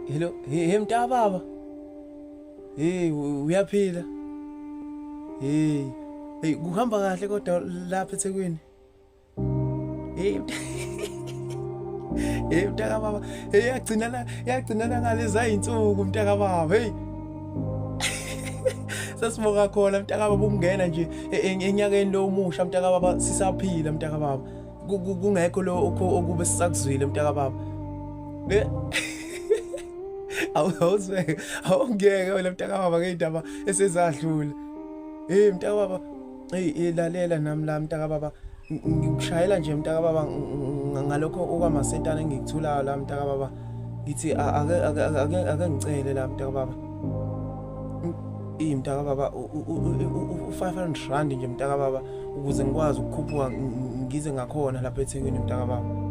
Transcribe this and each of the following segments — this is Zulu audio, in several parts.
hello he mntababa hey uyaphila hey hey kuhamba kahle kodwa lapha eThekwini hey hey mntaka baba hey yagcinana yagcinana ngaleza insuku mntaka baba hey sasibonga khona mntaka baba ukungena nje enyakeni lo omusha mntaka baba sisaphila mntaka baba kungekho lokho okube sisakuzwile mntakababa eh? awuzweke awungeke wena mntakababa ngey'ndaba esezadlula eyi mntakababa eyi ilalela nami la mntakababa ngikushayela nje mntakababa ngalokho okwamasentana engikuthulayo la mntakababa ngithi ake ngicele la mntakababa iyi mntakababa u-five hundred rand nje mntakababa ukuze ngikwazi ukukhuphuka ngize ngakhona lapha ethekwini mntakababa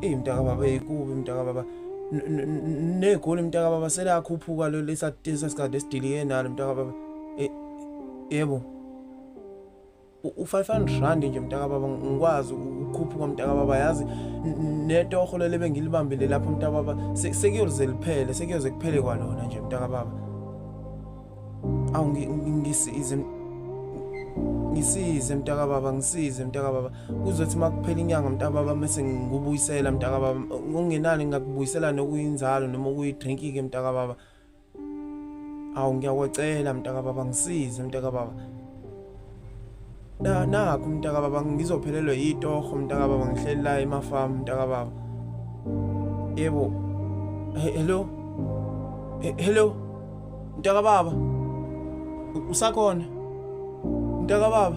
eyi mntakababa eyikubi mntakababa negoli mntakababa selakhuphuka lo lesasikade esidilike nalo mntakababa e, yebo u-500 rand nje mntakababa ngikwazi ukukhuphuka mntakababa yazi netoho lele bengilibambile lapho mntakababa sekuyoze liphele sekuyoze kuphele kwalona nje mntakababa awu ngisize ngisize mntaka baba ngisize mntaka baba kuzothi makuphela inyanga mntaka baba mase ngikubuyisela mntaka baba ungenani ngakubuyisela nokuyinzalo noma ukuyidrink ke mntaka baba awu ngiyakwacela mntaka baba ngisize mntaka baba Na nakho mntaka baba ngizophelelwe yitoho mntaka baba ngihleli la emafamu mntaka baba. Yebo. Hello. Hello. Mntaka baba. Usakhona. Mntaka baba.